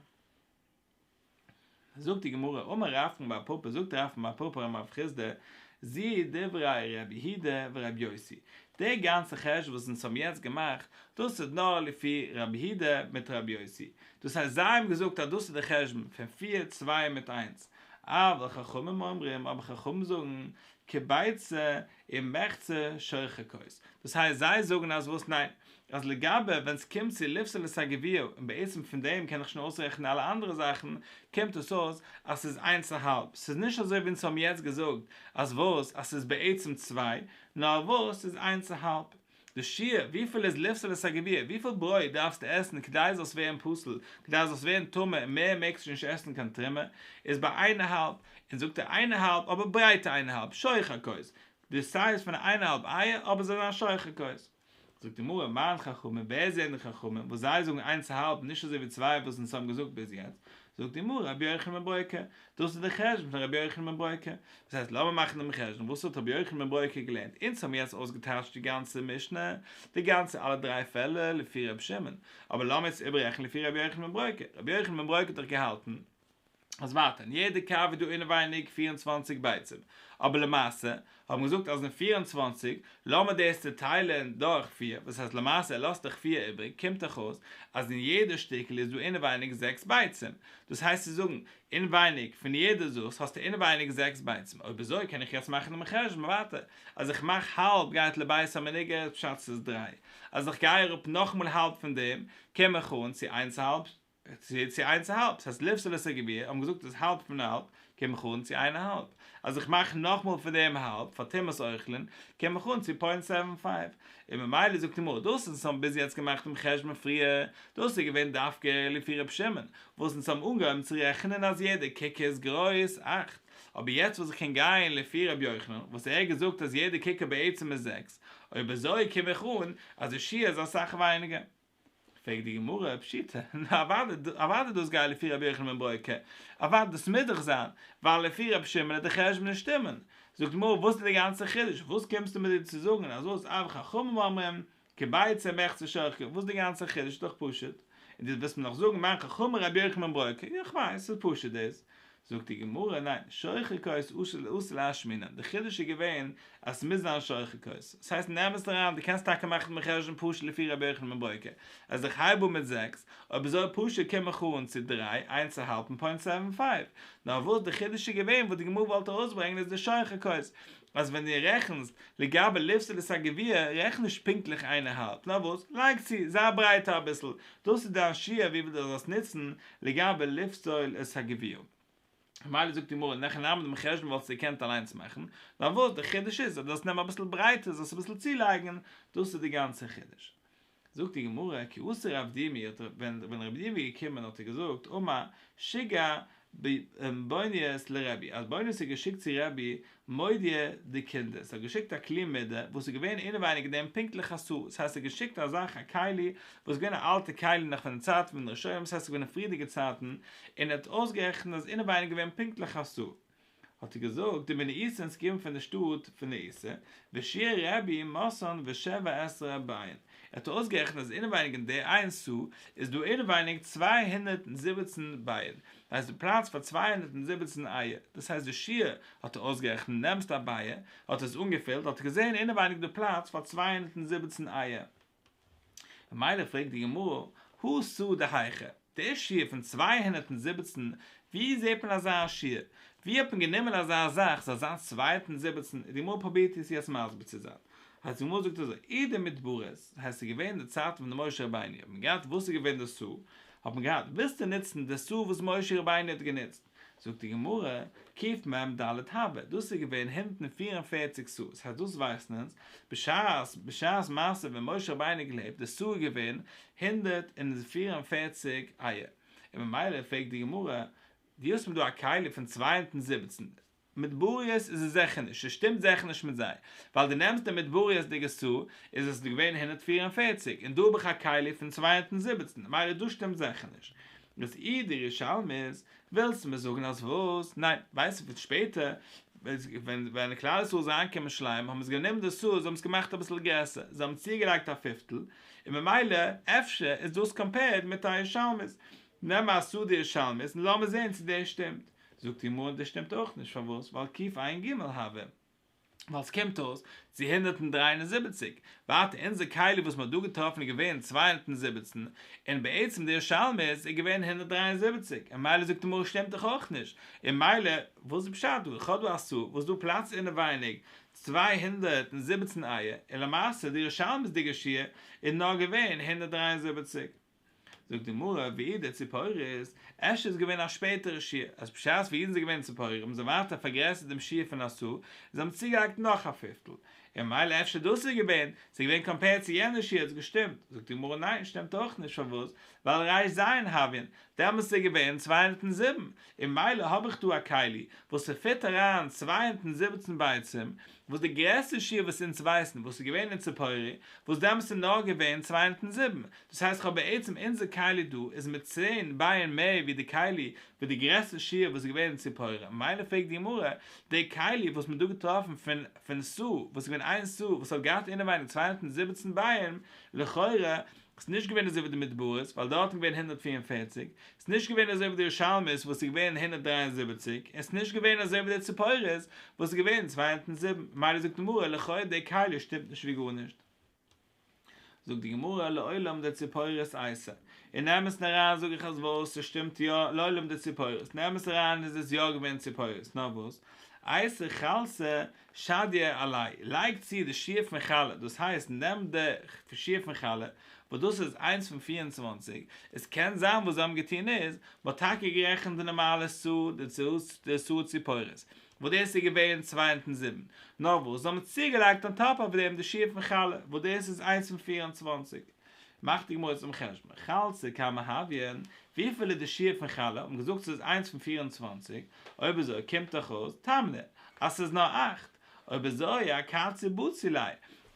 זאגט די גמרא, אמר רבקן בר פפא זאגט רבקן בר פפא רמ א פריזדע זי ע דברי ר' יהודה ור' יוסי, די גאנצע חשבון וואס אונז האבן יעצט געמאכט, דאס איז נאר לפי ר' יהודה מיט ר' יוסי, דאס הייסט זיי האבן געזאגט אז דאס איז די חשבון פון פיר צוויי מיט איינס, אבל חכמים אומרים, אבער חכמים זאגן, כביצה אין מחצה שוחקות. דאס הייסט זיי זאגן אז וואס ניין, אז לגבי ווען ס'קומט צו לפסול את הגביע און בעצם פון דעם קען איך שוין אויסרעכענען אלע אנדערע זאכן, קומט עס אויס אז ס'איז איינס צו האלב, ס'איז נישט אזוי ווי אונז האבן יעצט געזאגט אז וואס אז ס'איז בעצם צוויי, נאר וואס ס'איז איינס צו האלב. די שיעור וויפיל איז לפסול את הגביע, וויפיל ברויט דארפסטו עסן כדי זאלסט ווערן פסול, כדי זאלסט ווערן טמא און מער מעגסטו נישט עסן קיין תרומה, איז ביי איין אהאלב, און זאגט ער איין אהאלב אבער ברייטע איין אהאלב, שוך הכוס, די סייז פון א איין אהאלב אייער אבער זאל זיין שוך הכוס. זאגט די גמרא מיין חכמים, ווער זענען די חכמים וואס זיי זאגן איינס אהאלב נישט אזוי ווי צוויי וואס אונז האבן געזאגט ביז יעצט, זאגט די גמרא רבי יוחנן בן ברוקה, דאס איז די חשבון פון רבי יוחנן בן ברוקה, דאס הייסט לאמיר מאכן דעם חשבון, וואס האט רבי יוחנן בן ברוקה געלערנט, אונז האבן יעצט אויסגעטייטשט די גאנצע משנה, די גאנצע אלע דריי פעלער לפי רבי שמעון, אבער לאמיר יעצט איבעררעכענען לפי רבי יוחנן בן ברוקה, רבי יוחנן בן ברוקה האט דאך געהאלטן אז ווייטער אין יעדע קאווע איז דא אינעווייניג פֿיר און צוואַנציק ביצים, אבער למעשה האבן געזאגט אז אין פֿיר און צוואַנציק, לאמיר דאס צוטיילען דורך פֿיר, וואס הייסט למעשה ער לאזט דאך פֿיר איבריג, קומט דאך אויס אז אין יעדע שטיקל איז דא אינעווייניג זעקס ביצים, דאס הייסט צו זאגן, אינווייניג פון יעדע זאכס האסטו אינעווייניג זעקס ביצים, אויב אזוי קען איך יעצט מאכן דעם חשבון ווייטער, אז איך מאך האלב גייט לבית המנגד פשט ס'איז דריי, אז איך גיי אראפ נאכמאל האלב פון דעם קום איך אן צו איינס האלב צו צו איינס א האלב, ס'הייסט לפסול לסגביה, האבן געזאגט אז האלב פון א האלב קען מיך אן צו איין א האלב, אז איך מאך נאכמאל פון דעם האלב פאר טומאת אוכלין קען מיך אן צו פוינט סעווען פייוו, און ממילא זאגט די מרא דאס וואס אונז האבן ביז יעצט געמאכט דעם חשבון פריער, דאס איז געווען דווקא לפי רבי שמעון, וואס אונז האבן אנגעהויבן צו רעכענען אז יעדע ק ק איז גרויס אַכט, אבער יעצט וואס איך קען גיין לפי רבי יוחנן וואס ער האט געזאגט אז יעדע ק ק בעצם איז זעקס, אויב אזוי קען מיך אן אז די שיעור איז אסאך ווייניגער. פרעגט די גמרא פשיטא, נו אוואדע, אוואדע דאס גייט לפי רבי יוחנן בן ברוך ק, אוואדע דאס מוז דאך זיין, ווייל לפי רבי שמעון איז די חשבונות שטימען. זאגט די גמרא, וואס איז די גאנצע חידוש, וואס קומסטו מיר דא צו זאגן אז וואס אויב חכמים אומרים, כי ביצה מחצה שור ח, וואס איז די גאנצע חידוש, איז דאך פשוט, און דו וועסט מיר נאך זאגן מיין חכם רבי יוחנן בן ברוך ק, יא כ'ווייס, ס'איז פשוט דאס, זאגט די גמרא, ניין, שוחר כוס אסור לאסור להשמינן, די חידוש איז געווען אז עס מוז זיין שוחר כוס, דאס הייסט נעם עס אריין, דו קענסט טאקע מאכן דעם חשבון פשוט לפי רבי יוחנן בן בוקר, אז איך הייב אן מיט זעקס, אויב איז אזוי פשוט קום איך אן צו דריי, איינס א האלב און פוינט סעווען פייוו, נאר וואס די חידוש איז געווען וואס די גמרא וואלט ארויסברענגן איז די שוחר כוס, אז ווען דו רעכנסט לגבי לפסילת הגביע רעכן נישט פונקטליך איינערהאלב, נאר וואס, לייג צו, זיי ברייטער אביסל, דאס איז דיין שיעור וויפיל דו זאלסט נוצן, לגבי לפסול את הגביעון. ממילא זאגט די גמרא נח אין עמוד מחשבון וואלסטו געקענט אליינס מאכן, נאר וואס די חידוש איז אז דאס נעם אביסל ברייטער זאלסט אביסל צולייגן, דאס איז די גאנצע חידוש. זאגט די גמרא כי אסר רב דימי האט רב ווען ווען רב דימי איז געקומען האט ער געזאגט אמר שגר ב בעוניות לרבי אז בעוניות איז געשיקט צו רבי מודיע די קינדער, ס'האט געשיקט א כלי מידה וואס איז געווען אינעווייניג דעם פונקטליך אסור, ס'הייסט ס'האט געשיקט א זאך א כלי וואס איז געווען א אלטע כלי נאך פון די צייטן פון די ראשונים, ס'הייסט ס'איז געווען אין פריערדיגע צייטן, און ער האט אויסגערעכנט אז אינעווייניג געווען פונקטליך אסור. האט ער געזאגט די מין איסור און סגרים פון די שטאט פון די איסור, ושיער רבי מסון ושבע עשרה ביין, ער האט אויסגערעכנט אז אינעווייניג אין די איין סו איז דא אינעווייניג צוויי הונדערט זיבעצן ביין, ווייסט די פרייז פאר צוויי הונדערט און זיבעצן אייער, דאס הייסט די שיעור, האט ער אויסגערעכנט, נעמסט א בייער, האט עס אנגעפילט, האט ער געזען אינעווייניג די פרייז פאר צוויי הונדערט און זיבעצן אייער. ממילא פרעגט די גמרא, הא סא דהייכא, דער שיעור פון צוויי הונדערט און זיבעצן, ווי זעט מען אזא שיעור? ווי האט מען גענומען אזא זאך, ס'זאל זיין צוויי הונדערט און זיבעצן? די גמרא פרובירט אונז יעצט מסביר צו זיין. אז די גמרא זאגט אזוי, עדה מדברית, הייסט ס'איז געווען די צייטן פון די משה רבינו, האט מען געהאט וואס איז געווען די סא, האט מען געהאט, ווילסטו נוצן די סו וואס משה רבינו האט גענוצט? זאגט די גמרא, קפ מ ד הב', דאס איז געווען הונדערט און פֿיר און פֿערציק סו, עס הייסט דאס ווייסן אונז, בשעת בשעת מעשה ווען משה רבינו האט געלעבט די סו איז געווען הונדערט און פֿיר און פֿערציק איה, און ממילא פרעגט די גמרא, דו האסט מיר דא א כלי פון צוויי הונדערט און זיבעצן, מדבריות איז עס זיכער נישט, עס שטימט זיכער נישט מיט זיי, ווייל דו נעמסט די מדבריות'דיגע ס' איז עס געווען הונדערט פֿיר און פֿערציק און דא האב איך א כלי פון צוויי הונדערט און זיבעצן ממילא דאס שטימט זיכער נישט. דאס איד די ירושלמי'ס, ווילסט מיר זאגן אז וואס? ניין, ווייסט איר פון שפעטער ווען ווען כלל ישראל איז אריינגעקומען שלמים האבן זיי גענומען די ס' זיי האבן עס געמאכט אביסל גרעסער, זיי האבן צוגעלייגט א פיפטל, און ממילא אפשר איז דאס קאמפעירד מיט א ירושלמי'ס, נעם א ס' די ירושלמי'ס און לאמיר זען צו דאס שטימט. זאגט איר מר. דאס שטימט אויך נישט, פארוואס? ווייל קיף עיין ג הוה. ווייל ס'קומט אויס צו הונדערט און דרײַ און זיבעציק. ווייטער, אונזער כלי וואס מ'האט דא געטראפן איז געווען צוויי הונדערט און זיבעצן, און בעצם די ירושלמי איז איז געווען הונדערט דרײַ און זיבעציק, און מילא זאגט איר מר. שטימט דאך אויך נישט, און מילא וואס איז פשט דא? כ'האב דא א סו. וואס דא פלאץ אינעווייניג צוויי הונדערט און זיבעצן איה, און למעשה די ירושלמי'ס דיגע שיעור איז נאר געווען הונדערט דרײַ און זיבעציק. זאגט די גמרא, וידע ציפורי'ס אשת איז געווען א שפעטערע שיעור, אז בשעת וידען זיי געווען ציפורי האבן זיי ווייטער פארגרעסערט דעם שיעור פון עשו, און זיי האבן צוגעהאקט נאך א פיפטל, און ממילא אפשר דאס איז געווען, ס'איז געווען קאמפעירד צו יענע שיעור האט עס געשטימט, זאגט די גמרא ניין שטימט אויך נישט פארוואס, ווייל רש ז אין האבין, דעמאלס איז ער געווען צוויי הונדערט און זיבן, און ממילא האב איך דא א כלי וואס ס'פיט אריין צוויי הונדערט און זיבעצן ביצים, וואס די גרעסטע שיעור וואס אונז ווייסן וואס איז געווען אין ציפורי, וואס דעמאלס איז נאר געווען צוויי הונדערט און זיבן, דאס הייסט כ'האב בעצם אונזער כלי דא איז מיט צען בייען מער ווי די כלי וואס די גרעסטע שיעור וואס איז געווען אין ציפורי, מילא פרעגט די גמרא, די כלי וואס מען האט דא געטראפן פון פון סא וואס איז געווען איין סא וואס האט געהאט אינעווייניג צוויי הונדערט און זיבעצן בייען, לכאורה איז נישט געווען אזוי ווי די מדברות ווייל דארט איז געווען הונדערט פֿיר און פֿערציק, ס'איז נישט געווען אזוי ווי די ירושלמית וואס איז געווען הונדערט דרײַ און זיבעציק, און ס'איז נישט געווען אזוי ווי די ציפורת וואס איז געווען צוויי הונדערט און זיבן, ממילא זאגט די גמרא לכאו' די כלה שטימט נישט ווי גארנישט. זאגט די גמרא לעולם די ציפורת אייסער. און נעם עס אריין זאג איך אז וואס? ס'שטימט יא לעולם די ציפורת. נעם עס אריין איז עס יא געווען ציפורת, נאר וואס? אייסער חלסה שדיה עלי', לייג צו די שיעור פון חלה, דאס הייסט נעם די שיעור פון חלה, וואס דאס איז איינס פון פֿיר און צוואַנציק, עס קען זיין וואס זיי האבן געטון איז, מען האט טאקע גערעכנט די נארמאלע סעוד און די סעוד צו פורות, וואס דאס איז געווען צוויי הונדערט און זיבן, נאר וואס זיי האבן צוגעלייגט אן טאפ אויף דעם די שיעור פון חלה, וואס דאס איז איינס פון פֿיר און צוואַנציק. מאכט די גמרא צום חשבון, חלצה כמה הויה, וויפיל איז די שיעור פון חלה, האט מען געזאגט ס'איז איינס פון פֿיר און צוואַנציק, אויב אזוי קומט דאך אויס, תמנע, אז ס'איז נאר אַכט, אויב אזוי א קציר בצילי,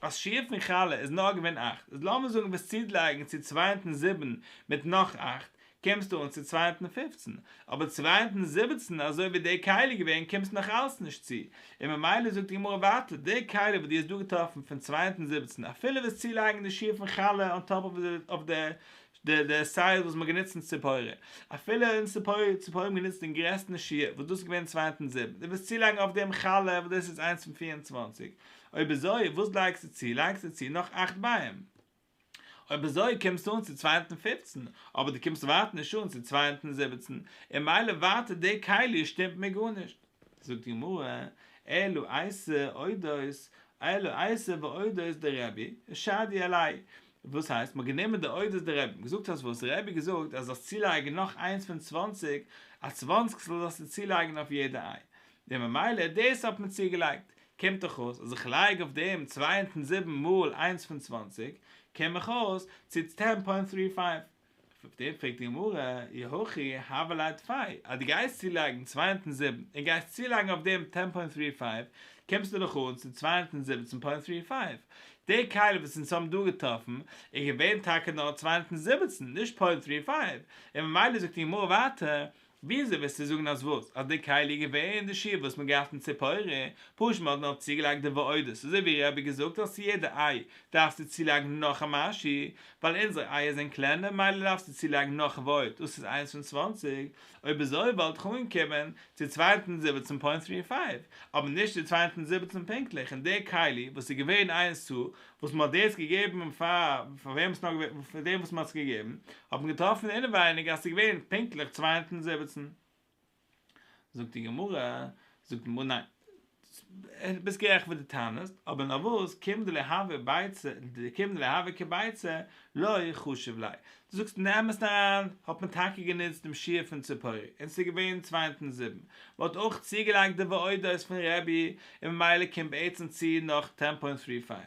אז שיעור פון חלה איז נאר געווען אַכט, איז לאמיר זאגן וועסט צודלייגן צו צוויי און זיבן מיט נאך אַכט, קומסטו אן צו צווייטן פֿופֿצן, אבער צווייטן זיבעצן אזוי ווי די קהלה איז געווען קומסטו נאך אלץ נישט צו, און ממילא זאגט די גמרא ווייטער, די קהלה וואס דו האסט דא געטראפן פון צווייטן זיבעצן אפילו וועסט צולייגן די שיעור פון חלה אן טאפ אויף די די סייז וואס מ'האט גענוצט אין ציפורי, אפילו אין ציפורי ציפורי האבן גענוצט דעם גרעסטן שיעור וואס דאס איז געווען צווייטן זיבן, דו וועסט צולייגן אויף דעם חלה וואס דאס איז איינס פון פֿיר און צוואַנציק, אויב אזוי וואס לייגסטו צו, לייגסטו צו נאך אַכט ביים. אויב אזוי קומסטו אן צו צווייטן פֿופֿצן, אבער דו קומסט ווייטער נישט אן צו צווייטן זיבעצן, און מילא ווייטער די כלי שטימט מיר גארנישט. זאגט די גמרא, אלו עשה עודות, אלו עשה ועודות דרבי, שדי עלי', וואס הייסט, מ'האט גענומען די עודות דרבי, מ'האט געזאגט אז וואס רבי האט געזאגט אז זאלסט צולייגן נאך איינס פון צוואנציג, א צוואנציגסטל זאלסטו צולייגן אויף יעדע איי, און ממילא דאס האט מען צוגעלייגט, קומט דאך אויס אז איך לייג אויף דעם צוויי הונדערט זיבן מאל איינס פון צוואַנציק קום איך אויס צו צען פוינט דרײַ פֿינף. אויף דעם פרעגט די גמרא, אי הכי הוה ליה דפי, אז דו גייסט צולייגן צוויי הונדערט זיבן און גייסט צולייגן אויף דעם צען פוינט דרײַ פֿינף קומסטו דאך אן צו צוויי הונדערט זיבעצן פוינט דרײַ פֿינף. די כלה וואס אונז האבן דא געטראפן איז געווען טאקע נאר צוויי הונדערט זיבעצן, נישט פוינט דרײַ פֿינף, און ממילא זאגט די גמרא ווייטער וויאזוי וועסטו זאגן אז וואס? אז די כלי איז געווען די שיעור וואס מ'האט געהאט אין ציפורי, פשוט מ'האט נאר צוגעלייגט די ועודות, אזוי ווי ר' אבי געזאגט אז צו יעדע איי דארפסטו צולייגן נאך א משהו, ווייל אונזערע אייער זענען קלענער מילא דארפסטו צולייגן נאך ועוד, דאס איז איינס פון צוואַנציק, אויב אזוי וואלט איך אנגעקומען צו צוויי הונדערט זיבעצן פוינט דרײַ פֿינף, אבער נישט צו צוויי הונדערט זיבעצן פונקטליך, און די כלי וואס איז געווען איינס צו וואס מען האט דאס געגעבן און פאר פאר וועם ס'נאר געווען פאר דעם וואס מען האט עס געגעבן, האט מען געטראפן אינעווייניג אז ס'איז געווען פונקטליך צוויי הונדערט און זיבעצן. זאגט די גמרא, זאגט די גמרא ניין, דו ביסט גערעכט וואס דו טענה'סט, אבער נארוואס קימדלי הווי ביצה, קימדלי הווי כביצה, לא חשוב ליה. דו זאגסט אין די אמת אריין, האט מען טאקע גענוצט דעם שיעור פון ציפורי, און ס'איז געווען צוויי אונטן זיבן, מען האט אויך צוגעלייגט די ועודות פון רבי, און ממילא קומט בעצם צו נאך טען פוינט טרי פייוו.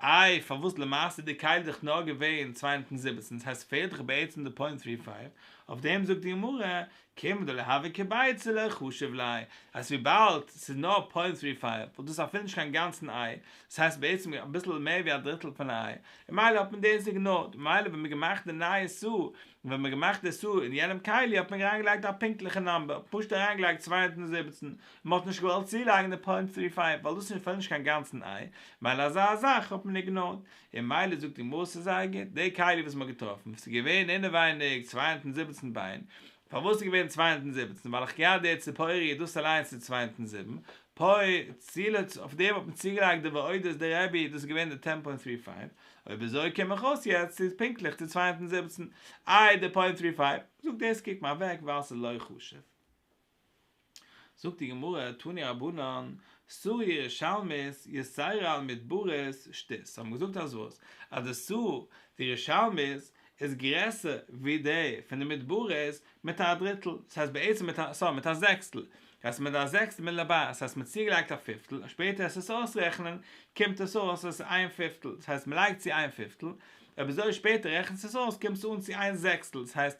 איי פארוואס למעשה איז די כלי דאך נאר געווען צוויי אונטן זיבעצן, דאס הייסט ס'פעלט דאך בעצם די פוינט טרי פייוו, אויף דעם זאגט די גמרא, כיוון דלהביא כביצה לא יחשב לאי, אז וויבאלד ס'איז נאר פוינט טרי פייוו וואלט דאס אפילו נישט קיין גאנצן איי, דאס הייסט בעצם אביסל מער ווי א דריטל פון א איי, און מילא האט מען דאס איגנארט, ממילא ווען מ'געמאכט די נייע סו, און ווען מ'געמאכט די סו אין יענעם כלי האט מען אריינגעלייגט א פונקטליכע נאמבער, פשוט אריינגעלייגט צוויי הונדערט און זיבעצן, און מ'האט נישט געוואלט צולייגן די פוינט טרי פייוו ווייל דאס איז אפילו נישט קיין גאנצן איי, מילא אזא זאך האט מען איגנארט, און מילא זאגט די מוסר זייגער, די כלי וואס מ'האט געטראפן, ס'איז געווען אינעווייניג צוויי הונדערט און זיבעצן ביין, פארוואס איז געווען צוויי הונדערט און זיבעצן, ווייל איך געהאט די ציפורי און דאס אליינס איז צוויי הונדערט און זיבן, פוי, צילאץ, אויף דעם האט מען צוגעלייגט די ועודת די רבי, דאס איז געווען די טען פוינט טרי פייוו, אויב אזוי קום איך אויס יעצט ס'איז פונקטליך די צוויי הונדערט און זיבעצן, איי די פוינט טרי פייוו, זאגט דאס קוק מיר אוועק ווייל ס'איז לא חשוב. זאגט די גמרא, תני רבנן, סור ירושלמית, יסיירא על מדברית, שתית, האט מען געזאגט אז וואס? אז די סור, די ירושלמית, איז גרעסער ווי די פון די מדברית מיט א דריטל, דאס הייסט בעצם מיט א, סארי, מיט א זעקסטל, דאס הייסט מיט א זעקסטל מיט ל ב, דאס הייסט מען צוגעלייגט א פיפטל, און שפעטער עס עס אויסרעכענען, קומט עס אויס אז עס איז איין פיפטל, דאס הייסט מען לייגט צו איין פיפטל, אויב אזוי שפעטער רעכנט עס עס אויס קומט עס אן צו איין זעקסטל, דאס הייסט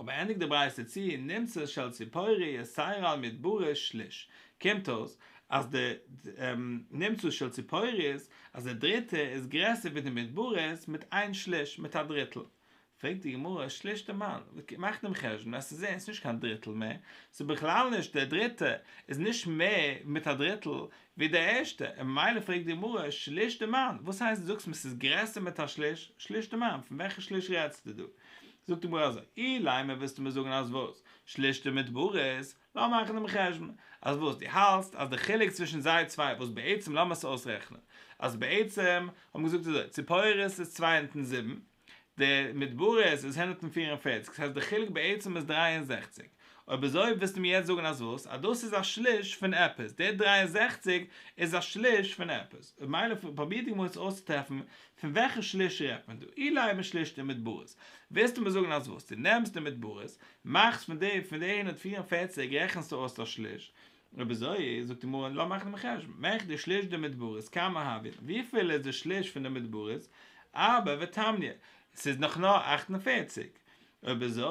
אבער ענדיגט די ברייתא צו נמצא של ציפורי יסיירא על מדברה שליש, קומט אויס אז די נמצא של ציפורי'ס אז די דריטע איז גרעסער ווי די מדברה'ס מיט איין שליש, מיט א דריטל. פרעגט די גמרא, שליש די מאן, מאכט דעם חשבון אז ס'איז ערנסט נישט קיין דריטל מער, ס'איז בכלל נישט, די דריטע איז נישט מער מיט א דריטל, ווי די ערשטע, און ממילא פרעגט די גמרא, שליש די מן? וואס הייסט דו זאגסט מען ס'איז גרעסער מיט א שליש? שליש די מן, פון וועלכע שליש רעדסטו דא? זאגט די גמרא אזוי, אילאי מען ווילסטו מיר זאגן אז וואס? שליש די מדברות, לאמיר מאכן דעם חשבון, אז וואס? דו האלטסט אז די חילוק צווישן זיי צוויי וואס בעצם לאמיר עס אויסרעכענען, אז בעצם האט מען געזאגט אזוי, ציפורת איז צוויי און זיבן, די מדברות איז הונדערט און פֿיר און פֿערציק, ס'הייסט די חילוק בעצם איז דרײַ און זעכציק. אויב אזוי ווילסטו מיר יעצט זאגן אז וואס? אז דאס איז א שליש פון עפעס, די דרײַ און זעכציק איז א שליש פון עפעס. מילא פרוביר די גמרא צו אויסצוטרעפן פון וועלכע שליש רעדט מען דא. אילאי מען שלישט די מדברות, ווילסטו מיר זאגן אז וואס? דו נעמסט די מדברות, מאכסט פון די פון די הונדערט פֿיר און פֿערציק רעכנסטו אויס א שליש, רבי זיע, זאגט די גמרא, לאמיר מאכן דעם חשבון, מעכט די שליש די מדברות, כמה הבין, וויפיל איז די שליש פון די מדברות, ארבע ותמניא, ס'איז נאך נאר אכט און פערציג, רבי זיע,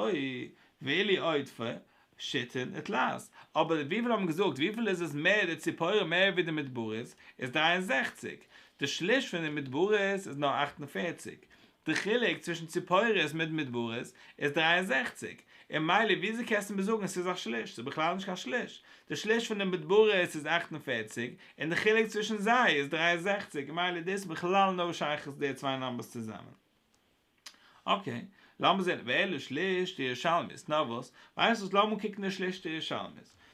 ואילי עודפא, שיטין את לז, אבער וויפיל האבן געזאגט, וויפיל איז עס מער די ציפורים מער ווי די מדברות, איז דריי און זעכציג, די שליש פון די מדברות איז נאר אכט און פערציג, די חילוק צווישן ציפורות מיט מדברות איז דרײַ און זעכציק, און מילא וויאזוי קענסטו מיר זאגן ס'איז א שליש? ס'איז בכלל נישט קיין שליש. די שליש פון די מדברות איז אַכט און פֿערציק, און די חילוק צווישן זיי איז דרײַ און זעכציק, מילא דאס האט בכלל נאו שייכות די צוויי נאמבערס צוזאמען. אקעי, לאמיר זען ווער לישלישט די ירושלמית, נאר וואס, ווייסט וואס לאמיר קוקן די שלישט די ירושלמית.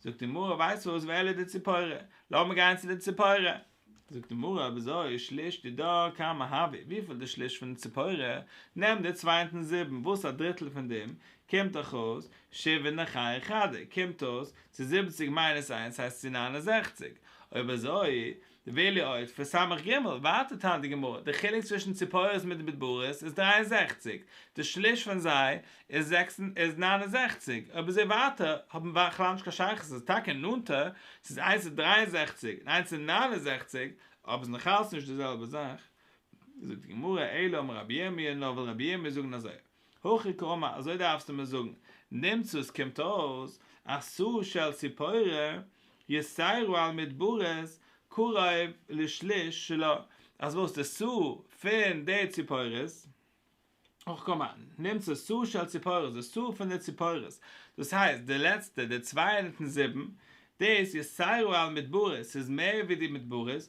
זאגט די מרא ווייסט וואס ואלה די ציפורה לאמיר גיין צו די ציפורה. זאגט די מרא וויאזוי שליש די דא כמה הווי וויפיל די שליש פון די ציפורה נעם די צוויי און טון זיבן וואס א דריטל פון דעם קומט דאך אויס שבעה נחי חדה קומט אויס צו זיבעציג מיינוס איינס הייסט צו נײַן און זעכציק אויב אזוי די וועליו אויף פון סמך ג', ווייטער טענה'ט די גמרא, די חילוק צווישן ציפורות מיט די מדברות איז דרײַ און זעכציק, די שליש פון זיי איז זעקס און איז נײַן און זעכציק, אבער זיי ווייטער האבן בכלל נישט קיין שייכות, עס איז טאקע נאנטער, ס'איז איינס איז דרײַ און זעכציק און איינס איז נײַן און זעכציק, אבער ס'איז נאכאלץ נישט די זעלבע זאך. זאגט די גמרא, אלא אמר רבי ירמיה, נאר וויל רבי ירמיה זאגן אזוי. הכי קאמא, אזוי דארפסטו מיר זאגן, נמצא עס קומט אויס, אסור שעל ציפורה, יסיירו על מדברות, קרוב לשליש שלו, אז וואס די סו פון די ציפורות, הכי קאמא, נמצא סו שעל ציפורות, די סו פון די ציפורות, דאס הייסט די לעצטע, די צוויי אינמיטן זיבן, דאס יסיירו על מדברות, ס'איז מער ווי די מדברות,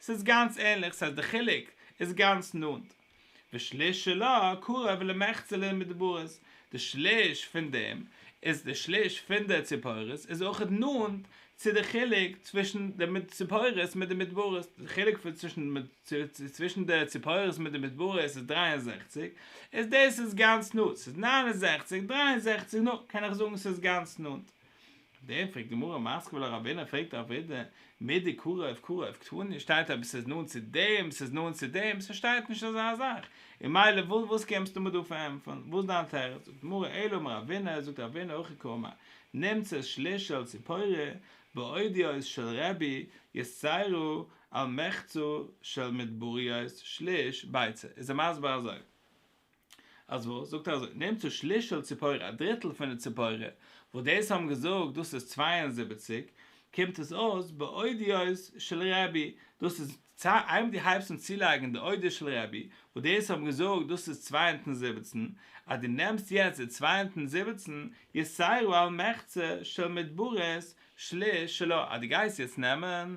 ס'איז גאנץ ענליך, ס'הייסט די חילוק איז גאנץ נאנט. ושליש שלו קרוב למחצה למדברות, די שליש פון דעם איז די שליש פון די ציפורות איז אויך נאנט צו די חילוק צווישן די ציפורות מיט די מדברות, די חילוק פון צווישן צווישן די ציפורות מיט די מדברות איז דרײַ און זעכציק, איז דאס איז גאנץ נאנט, ס'איז נײַן און זעכציק, דרײַ און זעכציק נאנט, קען איך זאגן ס'איז גאנץ נאנט. דעם פרעגט גמרא מסקוויל א ראבינער פרעגט א ווידער מידי קרוב קרוב קטני שטייט אויב ס'איז נאנט צו דעם ס'איז נאנט צו דעם ס'שטייט נישט אזא זאך און מילא וואס קומסטו מיר דא פארענטפערן וואס דיין תירוץ זאגט גמרא אלא אמר אבינר זאגט אבינר הכי קמא נמצא שליש של ציפורה באודיוס של רבי יששכרו על מחצו של מדבריות שליש ביצה איז ער מסביר אזוי. אז וואס? זאגט ער אזוי, נעם צו שלישל ציפורה, א דריטל פון די ציפורה, וואס דאס האבן געזאגט דאס איז צוויי און זיבעציק, קומט עס אויס באודיוס של רבי, דאס איז צוויי, איידער דו הייבסט אן צולייגן די אודיוס של רבי, וואס דאס האבן געזאגט דאס איז צוויי הונדערט און זיבעצן, אז דו נעמסט יעצט די צוויי הונדערט און זיבעצן, יסיירו על מחצה של מדברות שליש שלו, אז דו גייסט יעצט נעמען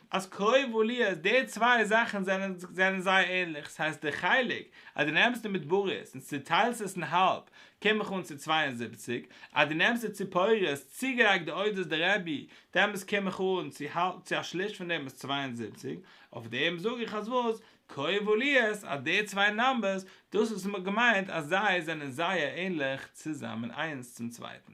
אז קרוב או לי אז די צוויי זאכן זענען זענען זייער ענליך, ס'הייסט די חלק אז דו נעמסט די מדבריות און צוטיילסט עס אין האלב קום איך אן צו צוויי און זיבעציק, אז דו נעמסט די ציפורות צוגעלייגט די אודות די רבי דעמאלס קום איך אן צו האלב צו א שליש פון דעם איז צוויי און זיבעציק, אויף דעם זאג איך אז וואס? קרוב או לי אז די צוויי נאמבערס דאס וואס מ'האט געמיינט אז זיי זענען זייער ענליך צוזאמען איינס צום צווייטן.